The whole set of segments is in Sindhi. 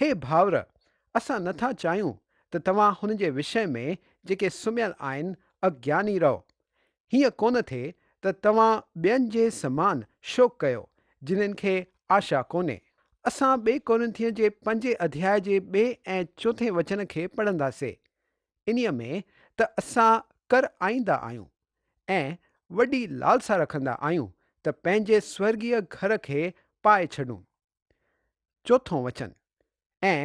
هي ڀائر! اسان نه ٿا چاهيون ته توهان هن جي وشي ۾ جيڪي سمهيل آهن، اگياني رهو. هيئن ڪونه ٿئي ته توهان ٻين جي سمان شوق ڪيو، جنن کي آشا ڪونهي. اسان ٻئي ڪورنٿيء جي پنجين اڌياء جي ٻئي ۽ چوٿين وچن کي پڙهنداسي. انهيء ۾ ته اسان ڪر آئيندا آهيون ۽ وڏي لالسا رکندا آهيون ته پنهنجي سورڳيه گهر کي پائي ڇڏون. چوٿون وچن، ۽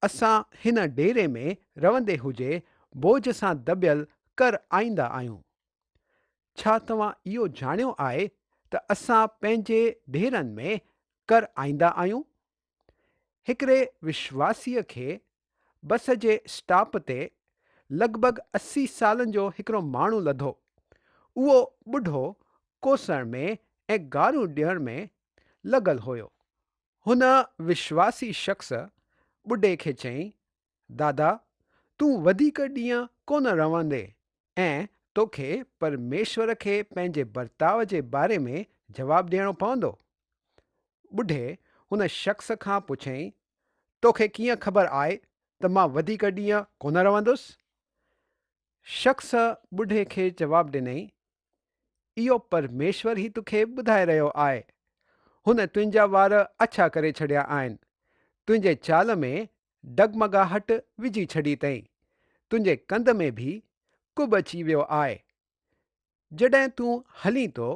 اسان هن ڊيري ۾ رهندي هجي بوجهه سان دٻيل ڪر آئيندا آهيون. ڇا توهان اهو ڄاڻيو آهي ته اسان پنهنجي ڊيرن ۾ ڪر آئيندا آهيون؟ هڪڙي وشواسيء کي بس جي اسٽاپ تي لڳ ڀڳ اسي سالن جو هڪڙو ماڻهو لڌو. اهو ٻڍو ڪوسڻ ۾ ۽ گاريون ڏيڻ ۾ لڳل هيو. هن وشواسي شخص ٻڍي کي چيائين، دادا، تون وڌيڪ ڏينهن ڪونه رهندين، ۽ توکي پرميشور کي پنهنجي برتاء جي باري ۾ جواب ڏيڻو پوندو. ٻڍي هن شخص کان پڇيائين، توکي ڪيئن خبر آهي ته مان وڌيڪ ڏينهن ڪونه رهندس؟ شخص ٻڍي کي جواب ڏنائين، اهو پرميشور ئي توکي ٻڌائي رهيو آهي. هن تنهنجا وار اڇا ڪري ڇڏيا آهن. تنهنجي چال ۾ ڊگمگاهٽ وجهي ڇڏي تئين، تنهنجي ڪنڌ ۾ به ڪٻ اچي ويو آء. جڏهن تون هلين ٿو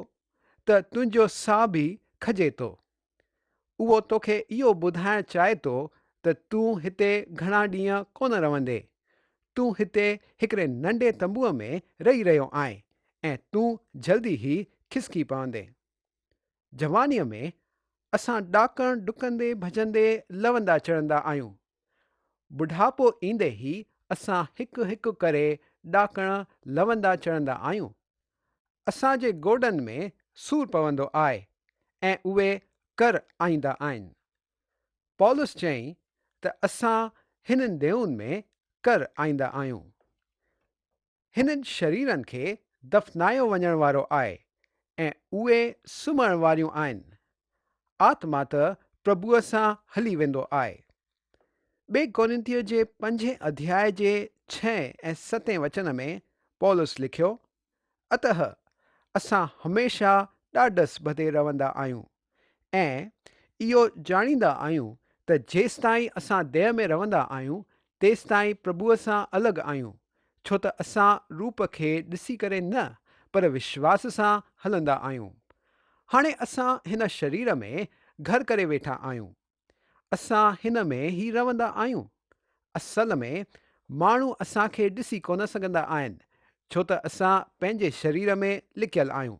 ته تنهنجو ساهه به کڄي ٿو. اهو توکي اهو ٻڌائڻ چاهي ٿو ته تون هتي گهڻا ڏينهن ڪونه رهندين. تون هتي هڪڙي ننڍي تنبوء ۾ رهي رهيو آهين ۽ تون جلدي ئي کسڪي پوندين. جوانيء ۾ اسان ڏاڪڻ ڊڪندي ڀڄندي لوندا چڙهندا آهيون. ٻڍاپو ايندي ئي اسان هڪ هڪ ڪري ڏاڪڻ لوندا چڙهندا آهيون. اسان جي گوڏن ۾ سور پوندو آهي ۽ اهي ڪر آئيندا آهن. پولس چيائين ته اسان هنن ديون ۾ ڪر آئيندا آهيون. هنن شريرن کي دفنايو وڃڻ وارو آهي ۽ اهي سمهڻ واريون آهن. آتما ته پرڀوء سان هلي ويندو آهي. ٻئي ڪورنٿيء جي پنجين اڌياء جي ڇهين ۽ ستين وچن ۾ پولس لکيو، اته اسان هميشه ڏاڍس ٻڌي رهندا آهيون، ۽ اهو ڄاڻيندا آهيون ته جيستائين اسان ديهه ۾ رهندا آهيون تيستائين پرڀوء سان الڳ آهيون ڇو ته اسان روپ کي ڏسي ڪري نه پر وشواس سان هلندا آهيون. هاڻي اسان هن شرير ۾ گهر ڪري ويٺا آهيون اسان هن ۾ ئي رهندا آهيون. اصل ۾ ماڻهو اسان کي ڏسي ڪونه سگهندا آهن ڇو ته اسان پنهنجي شرير ۾ لڪيل آهيون.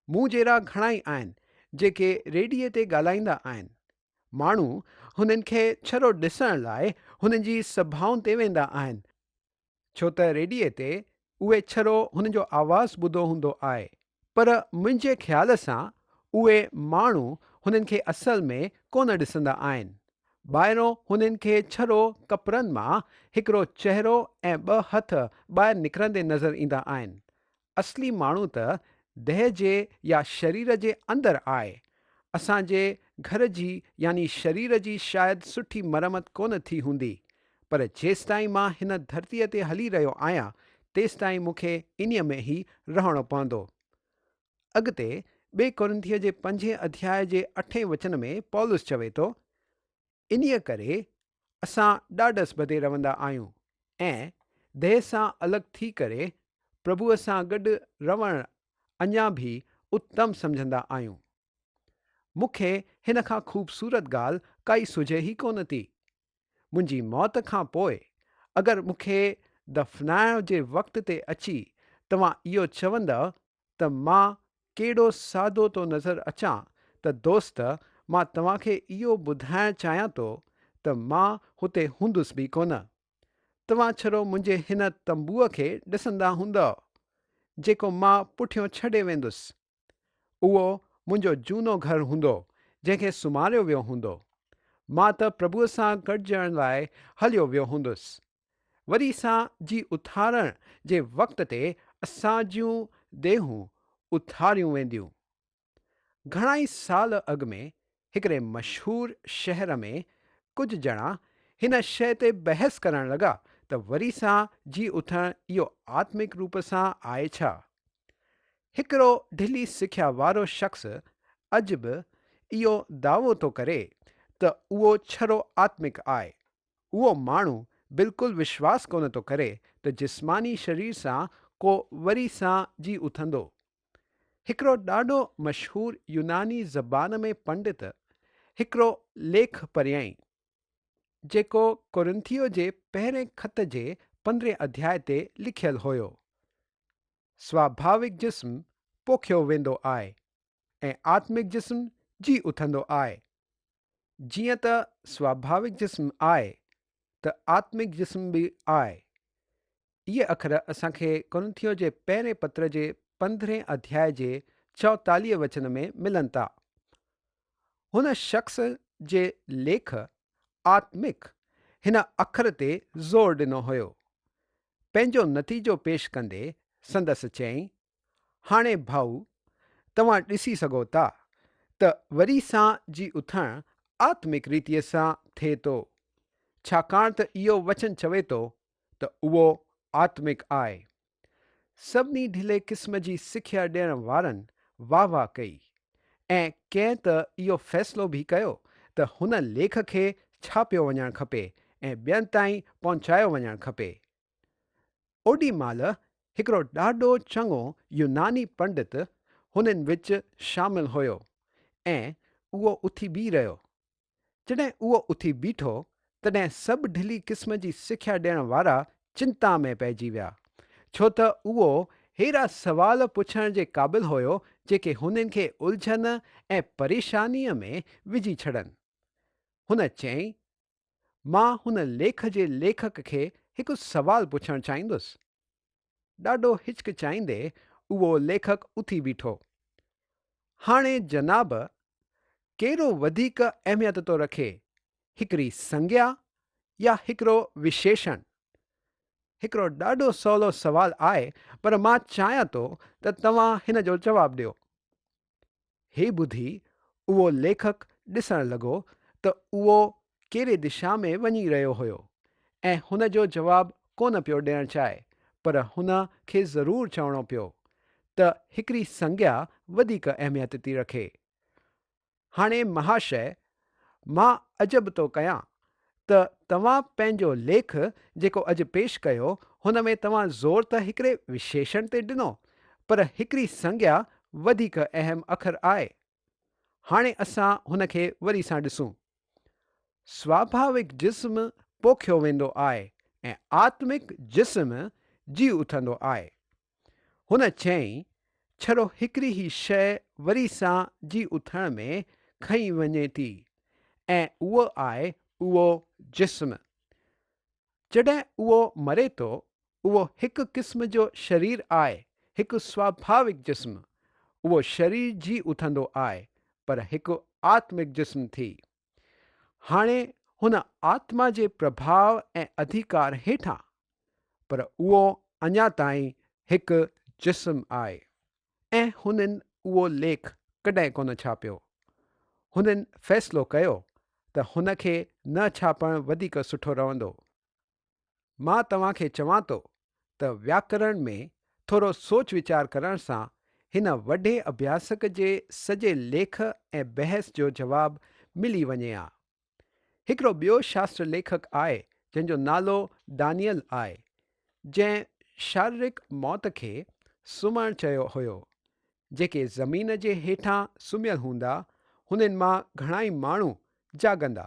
مون جهڙا گهڻائي آهن جيڪي ريڊيي تي ڳالهائيندا آهن. ماڻهو هنن کي ڇرو ڏسڻ لاء هنن جي سڀائن تي ويندا آهن ڇو ته ريڊيي تي اهي ڇرو هن جو آواز ٻڌو هوندو آء، پر منهنجي خيال سان اهي ماڻهو هنن کي اصل ۾ ڪونه ڏسندا آهن. ٻاهرون هنن کي ڇرو ڪپرن مان هڪڙو چهرو ۽ ٻه هٿ ٻاهر نڪرندي نظر ايندا آهن. اصلي ماڻهو ته ديهه جي يا شرير جي اندر آء. اسان جي گهر جي يعني شرير جي شايد سٺي مرمت ڪونه ٿي هوندي، پر جيستائين مان هن ڌرتيء تي هلي رهيو آهيان، تيستائين مون کي انهيء ۾ ئي رهڻو پوندو. اڳتي ٻئي ڪورنٿيء جي پنجين اڌياء جي اٺين وچن ۾ پولس چوي ٿو، انهيء ڪري اسان ڏاڍس ٻڌي رهندا آهيون ۽ ديهه سان الڳ ٿي ڪري پرڀوء سان گڏ رهڻ اڃا به اتم سمجهندا آهيون. مون کي هن کان خوبصورت ڳالهه ڪائي سجهي ئي ڪونه ٿي. منهنجي موت کان پوء اگر مون کي دفنائڻ جي وقت تي اچي توهان اهو چوندؤ ته مان ڪيڏو سادو ٿو نظر اچان ته دوست مان توهان کي اهو ٻڌائڻ چاهيان ٿو ته مان هتي هوندس به ڪونه. توهان ڇڙو منهنجي هن تنبوء کي ڏسندا هوندؤ، جيڪو مان پٺيون ڇڏي ويندس. اهو منهنجو جهونو گهر هوندو، جنهن کي سمهاريو ويو هوندو. مان ته پرڀوء سان گڏجڻ لاء هليو ويو هوندس. وري سان جي اٿارڻ جي وقت تي اسان جون ديهون اٿاريون وينديون. گهڻائي سال اڳ ۾ هڪڙي مشهور شهر ۾ ڪجهه ڄڻا هن شيء تي بحث ڪرڻ لڳا ته وري سان جي اٿڻ اهو آتمڪ روپ سان آهي ڇا؟ هڪڙو ڍلي سکيا وارو شخص اڄ به اهو دعوو ٿو ڪري ته اهو ڇرو آتمڪ آهي. اهو ماڻهو بلڪل وشواس ڪونه ٿو ڪري ته جسماني شرير سان ڪو وري سان جي اٿندو. هڪڙو ڏاڍو مشهور يوناني زبان ۾ پنڊت هڪڙو ليک پريائين، جيڪو ڪورنٿيو جي پهرين خط جي پندرهين اڌياء تي لکيل هيو، سواڀاوڪ جسم پوکيو ويندو آء، ۽ آتمڪ جسم جي اٿندو آء. جيئن ته سواڀاوڪ جسم آء ته آتمڪ جسم به آء. اهي اکر اسان کي ڪورنٿيو جي پهرين پتر جي پندرهين اڌياء جي چوئتاليهه وچن ۾ ملن ٿا. هن شخص جي ليک آتمڪ هن اکر تي زور ڏنو هيو. پنهنجو نتيجو پيش ڪندي سندس چيائين هاڻي ڀائو توهان ڏسي سگهو ٿا ته وري سان جي اٿڻ آتمڪ ريتيء سان ٿئي ٿو، ڇاڪاڻ ته اهو وچن چوي ٿو ته اهو آتمڪ آء. سڀني ڍلي قسم جي سکيا ڏيڻ وارن واهه واهه ڪئي ۽ ڪنهن ته اهو فيصلو به ڪيو ته هن ليک کي ڇاپيو وڃڻ کپي ۽ ٻين تائين پهچايو وڃڻ کپي. اوڏي مهل هڪڙو ڏاڍو چڱو يوناني پنڊت هنن وچ شامل هيو ۽ اهو اٿي بيهي رهيو. جڏهن اهو اٿي بيٺو، تڏهن سڀ ڍلي قسم جي سکيا ڏيڻ وارا چنتا ۾ پئجي ويا، ڇو ته اهو ههڙا سوال پڇڻ جي قابل هيو جيڪي هنن کي الجهن ۽ پريشانيء ۾ وجهي ڇڏن. هن چيائين، مان هن ليک جي ليکڪ کي هڪ سوال پڇڻ چاهيندس. ڏاڍو هچڪچائيندي اهو ليکڪ اٿي بيٺو. هاڻي جناب ڪهڙو وڌيڪ اهميت ٿو رکي هڪڙي سنگيا يا هڪڙو وشيشڻ؟ هڪڙو ڏاڍو سولو سوال آهي پر مان چاهيان ٿو ته توهان هن جو جواب ڏيو. هي ٻڌي اهو ليکڪ ڏسڻ لڳو ته اهو ڪهڙي دشا ۾ وڃي رهيو هيو ۽ هن جو جواب ڪونه پيو ڏيڻ چاهي پر هن کي ضرور چوڻو پيو ته هڪڙي سنگيا وڌيڪ اهميت ٿي رکي هاڻي مهاشيه مان عجب ٿو ڪيان ته توهان پنهنجو ليک جيڪو اڄ پيش ڪيو هن ۾ توهان زور ته هڪڙي وشيشڻ تي ڏنو پر هڪڙي سنگيا وڌيڪ اهم اکر آهي. هاڻي اسان هن کي وري سان ڏسون. سواڀاوڪ جسم پوکيو ويندو آهي ۽ آتمڪ جسم جي اٿندو آهي. هن چيائين، ڇڙو هڪڙي هي شيء وري سان جي اٿڻ ۾ کنئي وڃي ٿي ۽ اهو آهي اهو جسم. جڏهن اهو مري ٿو، اهو هڪ قسم جو شرير آهي، هڪ سواڀاوڪ جسم. اهو شرير جي اٿندو آهي، پر هڪ آتمڪ جسم ٿي. هاڻي هن آتما جي پرڀاء ۽ اڌيڪار هيٺان، پر اهو اڃا تائين هڪ جسم آهي ۽ هنن اهو ليک ڪڏهن ڪونه ڇاپيو. هنن فيصلو ڪيو ته هن کي نه ڇاپڻ وڌيڪ سٺو رهندو. مان توهان کي چوان ٿو ته وياڪرڻ ۾ ٿورو سوچ ويچار ڪرڻ سان هن وڍي اڀياسڪ جي سڄي ليک ۽ بحث جو جواب ملي وڃي ها. هڪڙو ٻيو شاستر ليکڪ آء جنهن جو نالو ڊانيئل آء جنهن شاررڪ موت کي سمهڻ چيو هيو. جيڪي زمين جي هيٺان سمهيل هوندا هنن مان گهڻائي ماڻهو جاڳندا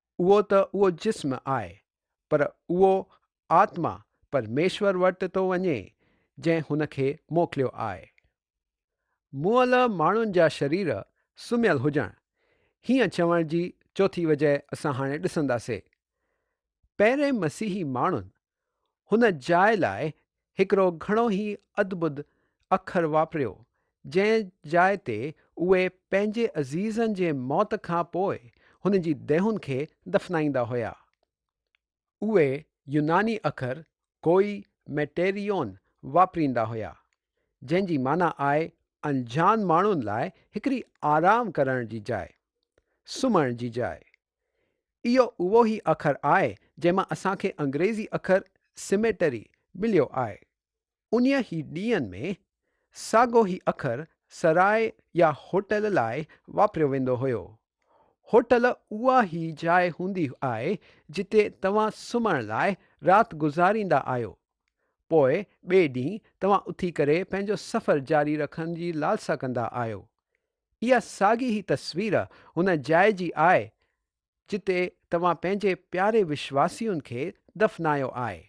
اهو ته اهو جسم آء، پر اهو آتما پرميشور وٽ ٿو وڃي، جنهن هن کي موڪليو آء. مئل ماڻهن جا شرير سمهيل هجڻ، هيئن چوڻ جي چوٿين وجهه اسان هاڻي ڏسنداسي. پهرين مسيحي ماڻهن هن جاء لاء هڪڙو گهڻو ئي ادبد اکر واپريو، جنهن جاء تي اهي پنهنجي عزيزن جي موت کان پوء هن جي ديهن کي دفنائيندا هيا. اهي يوناني اکر ڪوئي ميٽيريون واپريندا هيا، جنهن جي معنيٰ آهي انجان ماڻهن لاء هڪڙي آرام ڪرڻ جي جاء، سمهڻ جي جاء، اهو اهو ئي اکر آهي جنهن مان اسان کي انگريزي اکر Cemetery مليو آهي. انهيء ئي ڏينهن ۾ ساڳو ئي اکر سرائي يا هوٽل لاء واپريو ويندو هيو. هوٽل اها ئي جاء هوندي آهي جتي توهان سمهڻ لاء رات گذاريندا آهيو. پوء ٻئي ڏينهن توهان اٿي ڪري پنهنجو سفر جاري رکڻ جي لالسا ڪندا آهيو. اها ساڳي هي تصوير ان جاء جي آهي جتي توهان پنهنجي پياري وشواسين کي دفنايو آهي.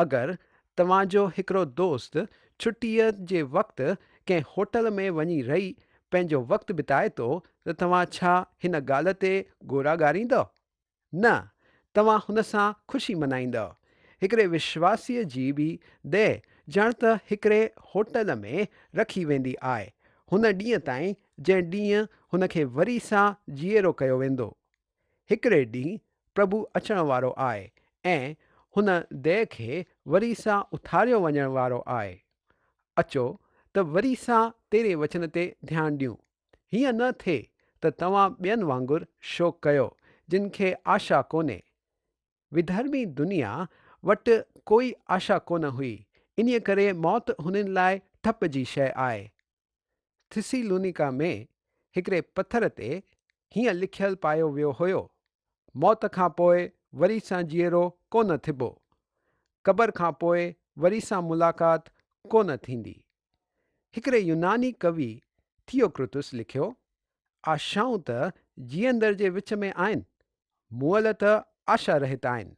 اگر توهان جو هڪڙو دوست ڇٽيء جي وقت ڪنهن هوٽل ۾ وڃي رهي پنهنجو وقت بتائي ٿو ته توهان ڇا هن ڳالهه تي ڳورا ڳاريندؤ؟ نه، توهان هن سان خوشي منائيندؤ. هڪڙي وشواسيء جي به ديهه ڄڻ ته هڪڙي هوٽل ۾ رکي ويندي آء، هن ڏينهن تائين جنهن ڏينهن هن کي وري سان جيئرو ڪيو ويندو. هڪڙي ڏينهن پرڀو اچڻ وارو آء ۽ هن ديهه کي وري سان اٿاريو وڃڻ وارو آء. اچو ته وري سان تيرين وچن تي ڌيان ڏيون. هيئن نه ٿئي ته توهان ٻين وانگر شوق ڪيو جن کي آشا ڪونهي. وڌرمي دنيا وٽ ڪوئي آشا ڪونه هئي انهيء ڪري موت هنن لاء ٺپ جي شيء آهي. ٿسيلونيڪا ۾ هڪڙي پٿر تي هيئن لکيل پايو ويو هيو، موت کان پوء وري سان جيئرو ڪونه ٿبو. قبر کان پوء وري سان ملاقات ڪونه ٿيندي. هڪڙي يوناني ڪوي ٿيوڪرتس لکيو، آشائون ته جيئندڙ جي وچ ۾ آهن، مئل ته آشا رهت آهن.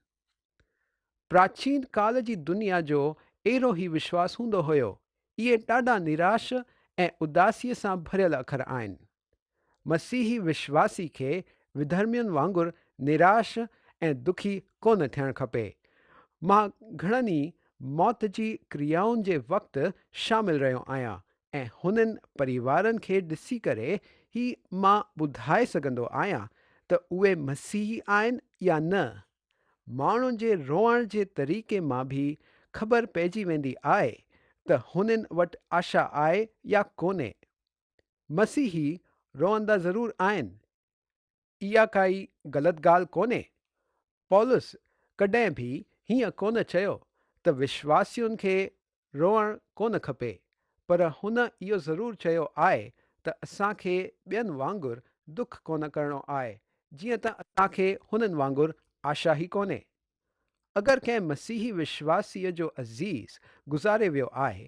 پراچين ڪال جي دنيا جو اهڙو هي وشواس هوندو هيو. اهي ڏاڍا نراش ۽ اداسيء سان ڀريل اکر آهن. مسيحي وشواسي کي وڌرمين وانگر نراش ۽ دکي ڪونه ٿيڻ کپي. مان گهڻن ئي موت جي ڪريائن جي وقت شامل رهيو آهيان ۽ هنن پريوارن کي ڏسي ڪري هي مان ٻڌائي سگهندو آهيان ته اهي مسيحي آهن يا نه. ماڻهن جي روئڻ جي طريقي مان به خبر پئجي ويندي آهي ته هنن وٽ آشا آهي يا ڪونهي. مسيحي روئندا ضرور آهن. اها ڪائي غلط ڳالهه ڪونهي. پولس ڪڏهن به هيئن ڪونه چيو ته وشواسين کي روئڻ ڪونه کپي، پر هن اهو ضرور چيو آهي ته اسان کي ٻين وانگر دک ڪونه ڪرڻو آهي، جيئن ته اسان کي هنن وانگر آشا ئي ڪونهي. اگر ڪنهن مسيحي وشواسيء جو عزيز گذاري ويو آهي،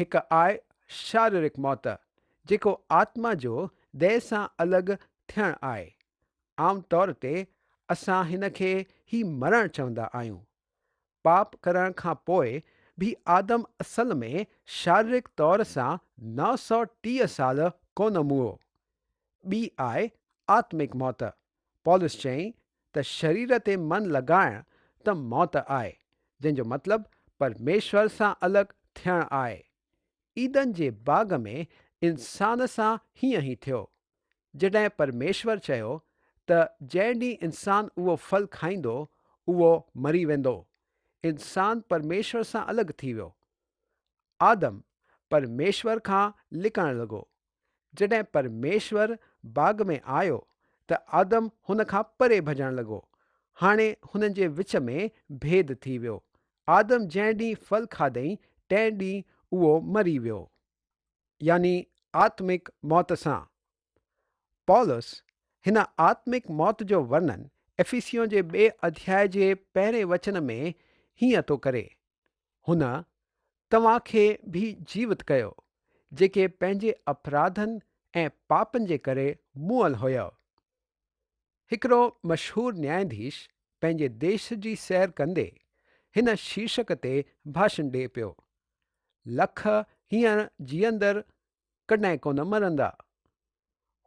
هڪ آء شاررڪ موت، جيڪو آتما جو ديھ سان الڳ ٿيڻ آهي. عام طور تي اسان هن کي هي مرڻ چوندا آهيون. پاپ ڪرڻ کان پوء به آدم اصل ۾ شاررڪ طور سان نو سؤ ٽيهه سال ڪونه موئو. ٻي آء آتمڪ موت، پولس چيائين ته شرير تي من لڳائڻ ته موت آهي، جنهن جو مطلب پرميشور سان الڳ ٿيڻ آهي. عيدن جي باغ ۾ انسان سان هيئن ئي ٿيو. جڏهن پرميشور چيو ته جنهن ڏينهن انسان اهو ڦل کائيندو، اهو مري ويندو، انسان پرميشور سان الڳ ٿي ويو. آدم پرميشور کان لڪڻ لڳو، جڏهن پرميشور باغ ۾ آيو ته آدم هن کان پري ڀڄڻ لڳو. هاڻي هنن جي وچ ۾ ڀيد ٿي ويو. آدم جنهن ڏينهن ڦل کاڌئي تنهن ڏينهن اهو مري ويو. يعني آتمڪ موت سان. پولس هن آتمڪ موت جو ورنن افيسيون جي ٻئي اڌياء جي پهرين وچن ۾ هيئن ٿو ڪري، هن توهان کي به جيوت ڪيو، جيڪي پنهنجي اپراڌن ۽ پاپن جي ڪري مئل هيؤ. هڪڙو مشهور نياياڌيش پنهنجي ديش جي سير ڪندي هن شيرشڪ تي ڀاشن ڏئي پيو، لک هينئر جيئندڙ ڪڏهن ڪونه مرندا.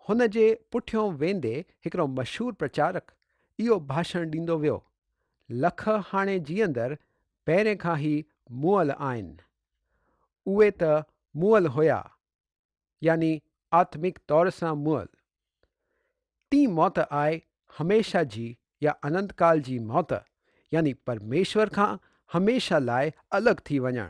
هن جي پٺيون ويندي هڪڙو مشهور پرچارڪ اهو ڀاشڻ ڏيندو ويو، لک هاڻي جيئندر پهرين کان هي مئل آهن. اهي ته مئل هيا، يعني آتمڪ طور سان مئل. ٽين موت آء هميشه جي يا اننت ڪال جي موت، يعني پرميشور کان هميشه لاء الڳ ٿي وڃڻ،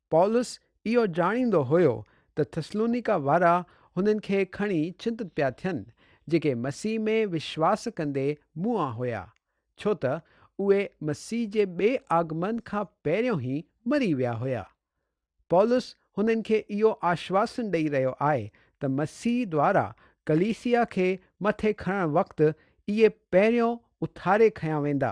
پولس اهو ڄاڻيندو هيو ته ٿسلونيڪا وارا هنن کي کڻي چنتت پيا ٿين، جيڪي مسيح ۾ وشواس ڪندي موئا هيا، ڇو ته اهي مسيح جي ٻئي آگمن کان پهريون ئي مري ويا هيا. پولس هنن کي اهو آشواسن ڏئي رهيو آهي ته مسيح دوارا ڪليسيا کي مٿي کڻڻ وقت اهي پهريون اٿاري کنيا ويندا.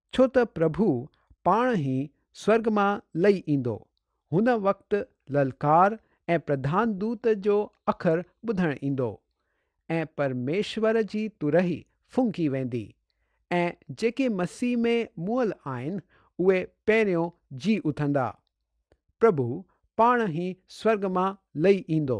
ڇو ته پرڀو پاڻ هي سورگ مان لئي ايندو. هن وقت للڪار ۽ پرڌان دوت جو اکر ٻڌڻ ايندو ۽ پرميشور جي تورهي ڦونڪي ويندي ۽ جيڪي مسيح ۾ مئل آهن اهي پهريون جي اٿندا. پرڀو پاڻ هي سورگ مان لئي ايندو.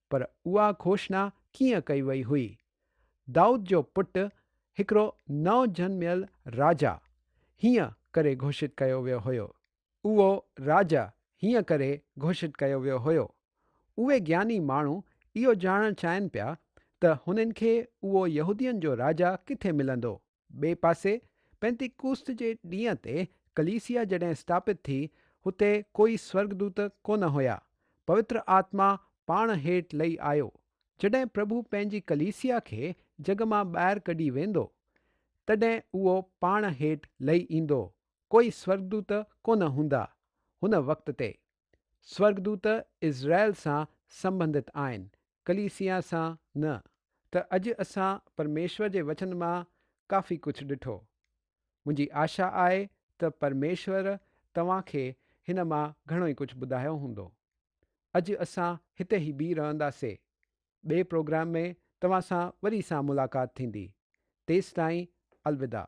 پر اها گهوشنا ڪيئن ڪئي وئي هئي؟ دائود جو پٽ، هڪڙو نئون جنميل راجا، هيئن ڪري گهوشت ڪيو ويو هيو. اهو راجا هيئن ڪري گهوشت ڪيو ويو هيو. اهي گياني ماڻهو اهو ڄاڻڻ چاهين پيا ته هنن کي اهو يهودين جو راجا ڪٿي ملندو؟ ٻئي پاسي پينتيڪوست جي ڏينهن تي ڪليسيا جڏهن اسٽاپت ٿي، هتي ڪوئي سورڳدوت ڪونه هيا. پوتر آتما پاڻ هيٺ لهي آيو. جڏهن پرڀو پنهنجي ڪليسيا کي جڳ مان ٻاهر ڪڍي ويندو، تڏهن اهو پاڻ هيٺ لهي ايندو. ڪوئي سورڳدوت ڪونه هوندا هن وقت تي. سورگدوت اسرائيل سان سنبنڌت آهن، ڪليسيا سان نه. ته اڄ اسان پرميشور جي وچن مان ڪافي ڪجهه ڏٺو. منهنجي آشا آهي ته پرميشور توهان کي هن مان گهڻو ئي ڪجهه ٻڌايو هوندو. اڄ اسان هتي ئي بيهي رهندا سي. ٻئي پروگرام ۾ توهان سان وري سان ملاقات ٿيندي. تيستائين الوداع.